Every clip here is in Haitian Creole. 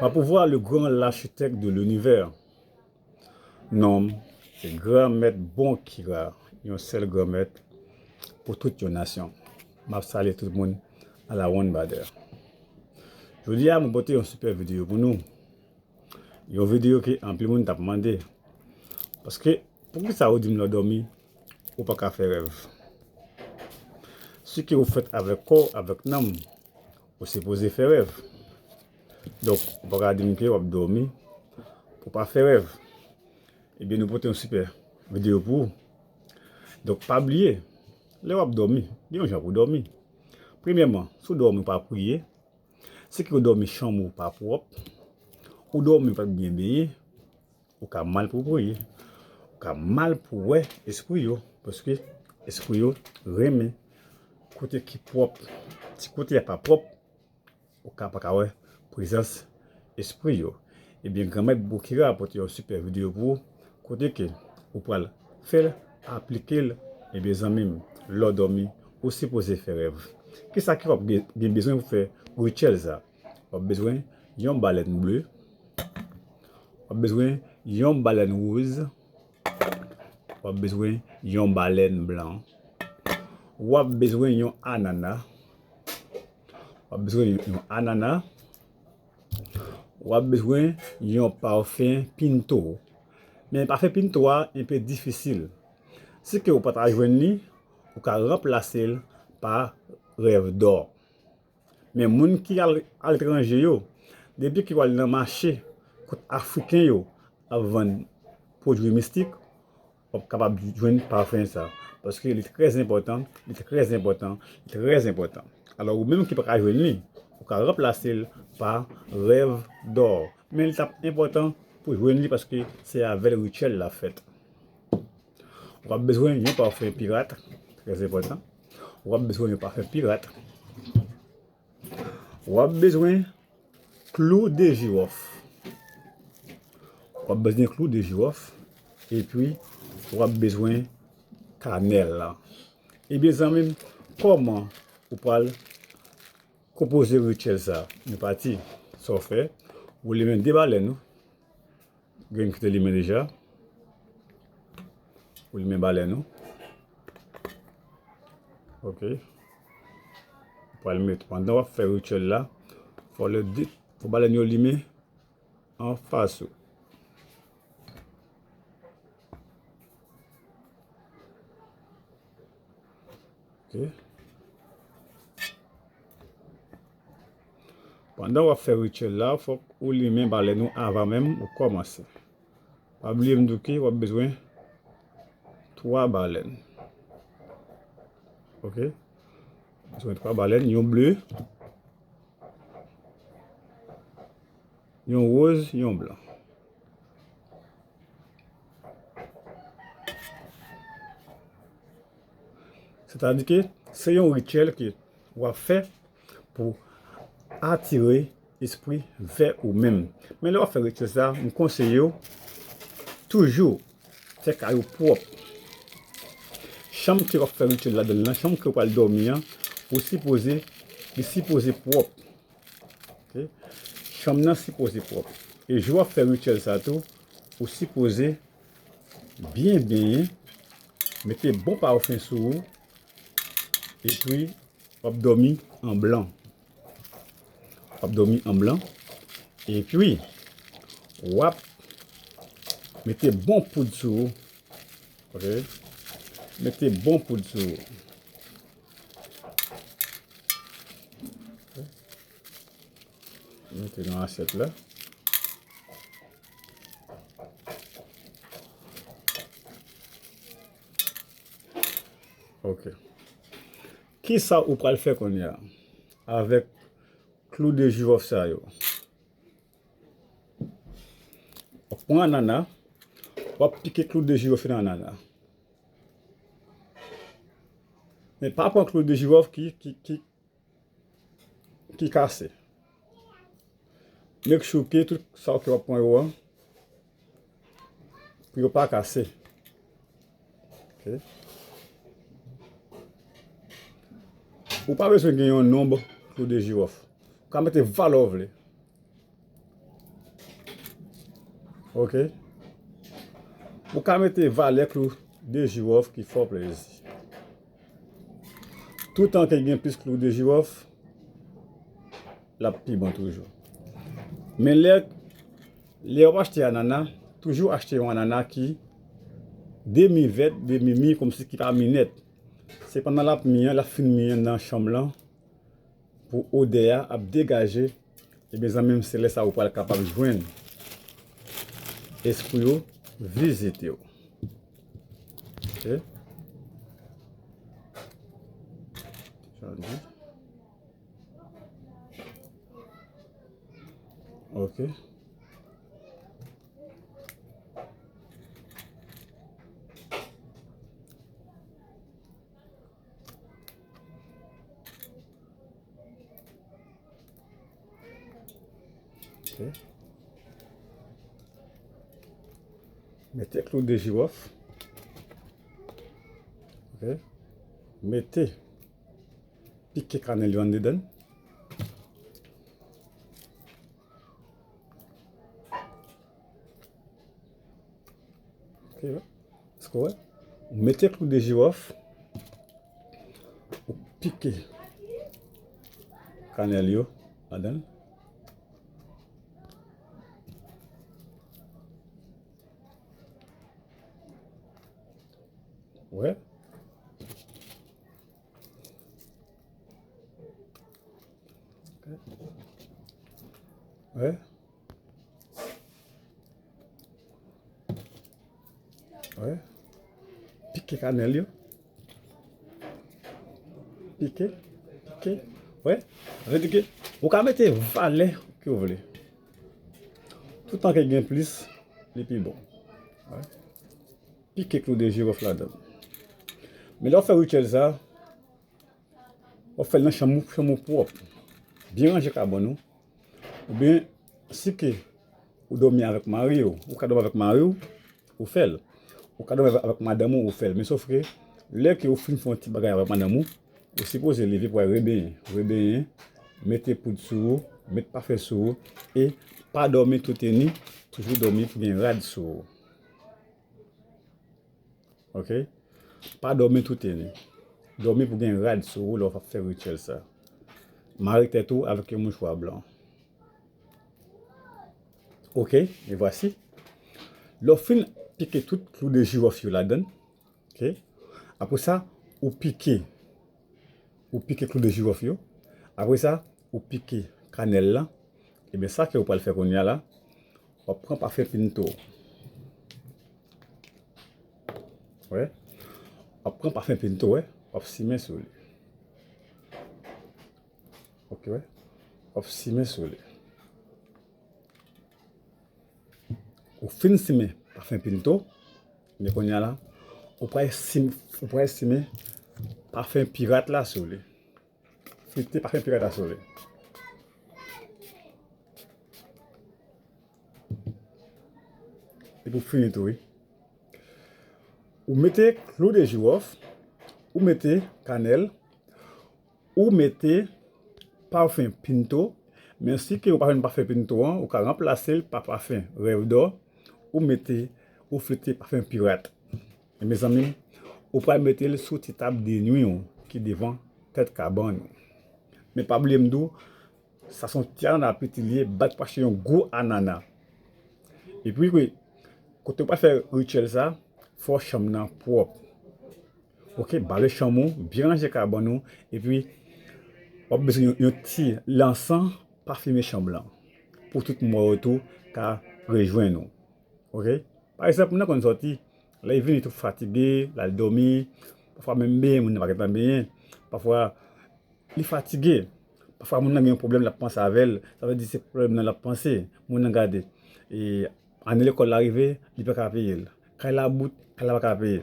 Pa pouvwa le gran lachitèk de linivè, non m se Granmèt Bonkira, yon sèl Granmèt pou tout yon nasyon. M ap salye tout moun alawonnbadè. Jodi a mwen pote yon sipè videyo pou nou, yon videyo ke anpil moun t ap mande. Paske Poukisa ou dim lè w dòmi ou pa ka fè rèv? Si ke ou fèt avèk kò w avèk nanm ou sipoze fè rèv. Donk ou pa ka dim ke wap dòmi pou pa fè rèv. Ebyen nou pote yon sipè videyo pou ou. Donk pa bliye lè wap dòmi gen yon jan pou dòmi. Premyèman si w dòmi ou pa priye, si ke ou dòmi chanm ou pa pwòp, ou dòmi ou pat byen benyen. Ou ka mal pou bwoye, ou ka mal pou wè espri yo, paske espri yo renmen kote ki pwòp. Si kote a pa pwòp, ou ka pa ka wè prezans espri yo. Ebyen Granmèt Bokira ap pote yon sipè videyo pou ou, kote ke ou pral fèl, aplike l, ebyen zanmi m, lè w dòmi, ou sipoze fè rèv. Kisa ke wap gen bezwen pou fè rituel sa? Wap bezwen yon balèn ble. Wap bezwen yon balèn woz. Wap bezwen yon balèn blan. Wap bezwen yon anana. Wap bezwen yon anana. Wap bezwen yon pafen pinto. Men pafen pinto a enpe difisil. Si ke ou pata jwen ni, ou ka ranplase l pa revdò. Men moun ki al aletranje yo, depi ke yo al nan mache kot Afriken yo ap vann pwodui mistik, w ap kapab jwenn pafen sa. Paske li trè enpòtan, li trè enpòtan, li trè enpòtan. Alò ou menm ki pa ka jwenn li, ou ka ranplase l pa rèv dò. Men li t ap enpòtan pou jwenn li paske se avè l rityèl la fèt. W ap bezwen yon pafè pirat, trè enpòtan. W ap bezwen yon pafè pirat. W ap bezwen klou de jiwòf. W ap bezwen klou de jiwòf. E pwi, w ap bezwen kanèl la. E byen zanmi m, kòman ou pral konpoze rityèl sa? Nou pati. Sa w fè, ou limen de balèn ou. Grenn kite limen deja. Ou limen balèn ou. Ok. Ou pral met. Pandan wap fè rituel la. Fò le di. Fò balèn yo limen. An fas ou. Pandan wap fè rituel la fòk ou limen balèn ou avan menm ou kòmanse. Pa bliye m di w ke wap bezwen 3 balèn. Ok. Bezwen 3 balèn, yon ble, yon roz, yon blan. Se ta di ke se yon rityèl ke w ap fè pou atire espri vè ou menm. Men lè w ap fè rityèl sa, m konseye w toujou fè kay ou pwòp. Chanm ke w ap fè rityèl ladan l lan, chanm ke w pral dòmi an, ou sipoze li sipoze pwòp. Chanm nan sipoze pwòp e jou wap fè rityèl sa tou ou sipoze byen benyen, mete bon pafen sou ou epi wap dòmi an blan. Wap dòmi an blan epi wap mete bon poud sou ou, mete bon poud sou ou. Mete nan asyèt la. Ok. Ki sa ou pral fè kon ya? Avèk klou de jiròf sa yo. Ou pran anana. Ou ap pike klou de jiròf nan anana. Men pa pran klou de jiròf ki kase. Make sure ke tout sa w ap pran yo an, pou yo pa kase. Ou pa bezwen gen yon nonb klou de jiròf. Ou ka mete valè ou vle. Ok Ou ka mete valè klou de jiwòf ki fò plezi. Toutan ke gen plis klou de jiwòf, l ap pi bon toujou. Men lè w ap achte anana, toujou achte yon anana ki demi vèt, demi mi, kòmsi ki pa mi nèt. Se pandan l ap mi an, l ap fin mi an nan chanm lan, pou odè a ap degaje ebyen zanmim se lè sa ou pral kapab jwenn espri yo vizitew ok ok Mete klou de jirof. Mete pike kanel yon dedan. Ou mete klou de jirof, ou pike kanèl yo ladan l. Wè? Wè? Wè. Pike kanèl yo. Pike. Pike. Wè. Vè di ke. Ou ka mete valè ki ou vle. Tout an ke gen plis, li pi bon. Wè. Pike klou de jirof la dan. Men lò fè rituel sa, ou fè nan chanm ou, chanm ou pwòp. Byen ranje kabon ou. Ou byen si ke ou domi avèk mari ou, ou ka domi avèk mari ou, ou fè l. Ou ka domi avèk madanm ou, ou fè l. Men sof ke lè ke ou fin fè yon ti bagay avèk madanm ou, ou sipoze leve pou al rebenyen. Rebenyen, mete poud sou ou, mete pafen sou ou e pa domi toutenni, toujou domi pou gen rad sou ou. Ok pa domi toute nu domi pou gen rad sou ou lè wap fè rituel sa mare tèt ou avèk yon mouchwa blan ok e vwasi lè w fin pike tout klou de jirof yo ladann ok apresa ou pike ou pike klou de jirof yo, apre sa ou pike kanèl lan, ebyen sa ke ou pral fè kounye a la, wap pran pafen pinto, wè, wap pran pafen pinto wè, wap simen sou li, ok wè, wap simen sou li, ou fin simen pafen pinto, Men konnya la ou pral sim ou pral simen pafen pirat la sou li. Fete pafen pirat la sou li. E pou fini tou wi. Ou mete klou de jiwòf, ou mete kanèl, Ou mete pafen pinto men si ke ou pa jwenn pafen pinto an ou ka ranplasel pa pafen rèv dò ou mete ou flite pafen pirat e mezanmi ou pral metel sou ti tab de nwi ou ki devan tèt kabann ou men pa bliye mdi w Sa son ti anana piti liye bat pase yon gwo anana epi wi kote ou pral fè rituel sa fò chanm nan pwòp ok bale chanm ou byen ranje kabann ou epi wap bezwen yon ti lansan pafime chanm lan pou tout mò yo tou ka rejwenn ou ok pa egzanp moun nan konn sòti lèl vini li tou fatige lal dòmi pafwa menm benyen moun nan pa gentan benyen pafwa li fatige. Pafwa moun nan gen yon pwoblèm l ap panse avè l, sa vle di se pwoblèm nan l ap panse. Moun nan gade, e ane lekòl la rive, li pa ka peye l. Kay la bout, kay la pa ka peye.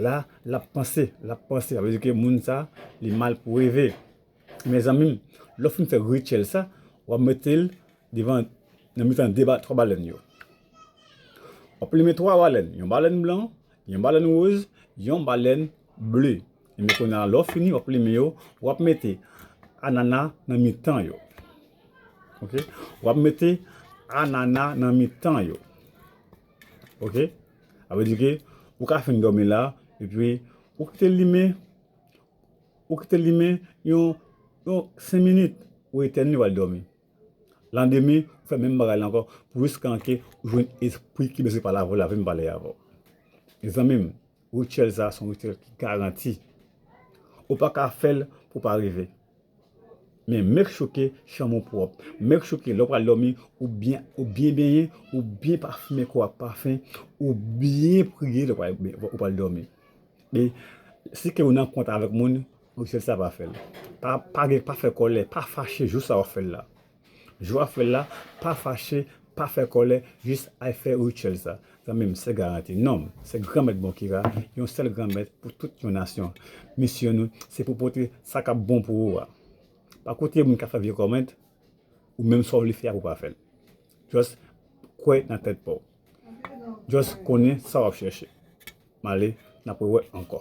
La, l ap panse, l ap panse. Sa vle di ke moun sa a, li mal pou reve. Mezanmi, lè w fin fè rityèl sa, w ap mete l devan, nan mitan de ba, twa balèn yo. W ap limen twa balèn, yon balèn blan, yon balèn woz, yon balèn. Bleu. Ebyen kounye a lè w fini wap plimen yo, wap mete anana nan mitan yo. Ok. Wap mete anana nan mitan yo. Ok. Sa vle di ke ou ka fin dòmi la epi ou kite l limen, ou kite l limen yon 5 minit, ou etèn li wal dòmi. Landemen ou fè menm bagay la ankò pou jiskanke ou jwenn espri ki bezwen pale avè w la, vin pale avè w. Mezanmi m, Rituel sa son rituel ki garanti. Ou pa ka fèl pou pa reve. Men make sure ke chanm ou pwòp. Make sure ke lè ou pral dòmi ou byen ou byen benyen, ou byen pafimen kò ak pafen, ou byen priye lè ou pral dòmi. E si ke ou nan kont avèk moun, rituel sa pa fèl. Pa gen pa fè kòlè, pa fache jou sa wap fèl la. Jou wap fel la pa fache pa fè kòlè jis al fè rituel sa zanmim se garanti nom se granmèt bon ki ra yon sèl granmèt pou tout yon nasyon misyon nou se pou pote sa kap bon pou ou a pa koute moun kap fè vye comment ou menm sa ou vle fè a ou pa fèl just kwè nan tèt paw just konnen sa wap chèche male nap rewè ankò.